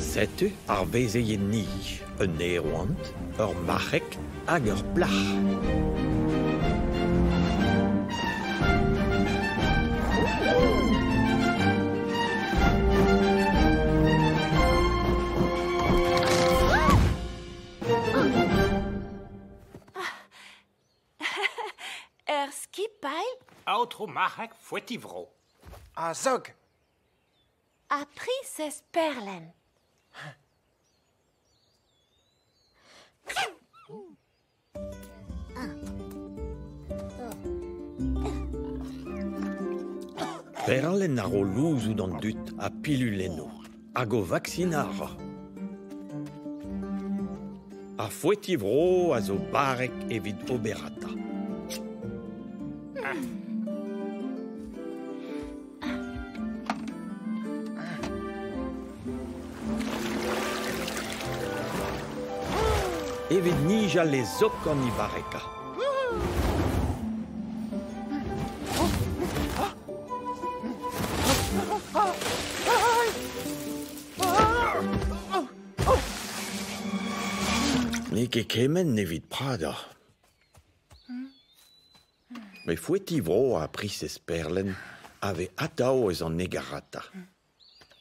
Setu ar vezeien-ni, un aeroant, ur marc'heg hag ur plac'h. Er skipailh Aotrou Marc'heg Fouetivro. A zog. Ha priñsez Perlen. Perlenn a ro louzoù d'an dud ha pilul enno hag o vaksinal a ra. Ar foeti-vro a zo barrek evit oberata. Evit nijal e zok gant he barreka. N'eo ket kement evit pradañ. Met Foeti-vro ha priñsez Perlen a vez atav eus an hegarata.